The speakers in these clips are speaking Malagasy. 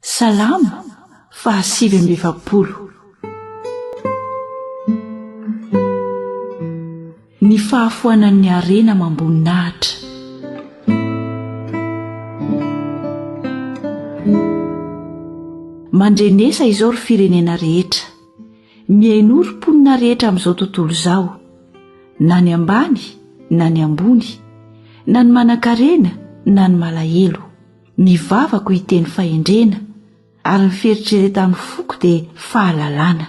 Salamo fahasivy amby efapolo Ny fahafoanan'ny harena amam-boninahitra Mandrenesa izao ry firenena rehetra Mihainoa ry mponina rehetra amin'izao tontolo izao, na ny ambany na ny ambony, na ny manan-karena na ny malahelo. Ny vavako hiteny fahendrena, ary ny fieritreretan'ny foko dia fahalalana.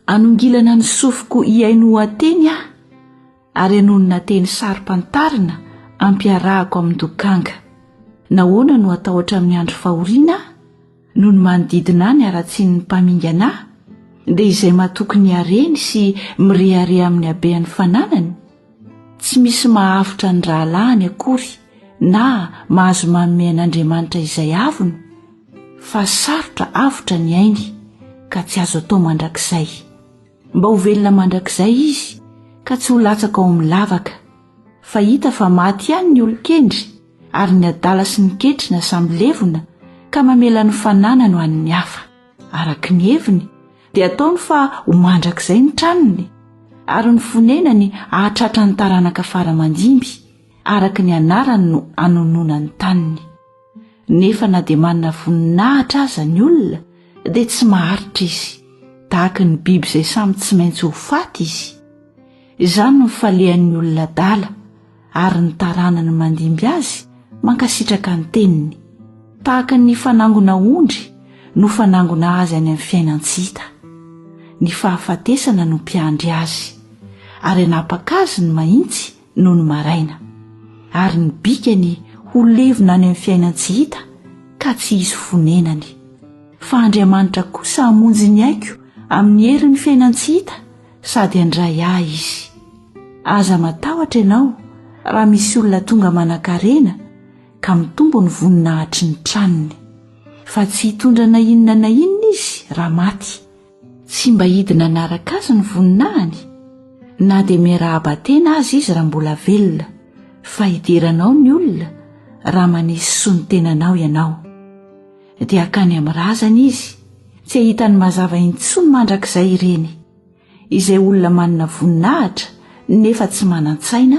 Hanongilana ny sofiko hihaino ohateny aho. ary hanonona teny saro-pantarina ampiarahako amin'ny dokanga. Nahoana no hatahotra amin'ny andro fahoriana aho? Noho ny manodidina ahy ny haratsian'ny mpamingana ahy, dia izay matoky ny hareny sy mirehareha amin'ny habean'ny fananany, tsy misy mahavotra ny rahalahiny akory na mahazo manome an'Andriamanitra izay avony, fa sarotra avotra ny ainy ka tsy azo atao mandrakizay. Mba ho velona mandrakizay izy ka tsy ho latsaka ao amin'ny lavaka. Fa hita fa maty ihany ny olon-kendry ary ny adala sy ny ketrina samy levona ka mamela ny fananany ho an'ny hafa. Araka ny heviny dia ataony fa ho mandrakizay ny tranony ary ny fonenany hahatratra ny taranaka fara aman-dimby araka ny anarany no anononany taniny. nefa na dia manana voninahitra aza ny olona dia tsy maharitra izy tahaka ny biby izay samy tsy maintsy ho faty izy izany ny falehan'ny olona adala ary ny taranany mandimby azy mankasitraka ny teniny tahaka ny fanangona ondry no fanangona azy any amin'ny fiainan-tsita ny fahafatesana no mpiandry azy ary anapaka azy ny mahitsy nony maraina, ary ny bikany ho levona any amin'ny fiainan-tsy hita ka tsy hisy fonenany. Fa Andriamanitra kosa hamonjy ny aiko amin'ny herin'ny fiainan-tsy hita sady handray ahy Izy. Aza matahotra ianao raha misy olona tonga manan-karena ka mitombo ny voninahitr'ny tranony. Fa tsy hitondra na inona na inona izy raha maty. Tsy mba hidina hanaraka azy ny voninahiny, na dia miarahaba tena aza izy raha mbola velona, fa hidiranao ny olona raha manisy soa ny tenanao ianao. Dia hankany amin'ny razany izy, tsy hahita ny mazava intsony mandrakizay ireny. Izay olona manana voninahitra nefa tsy manan-tsaina,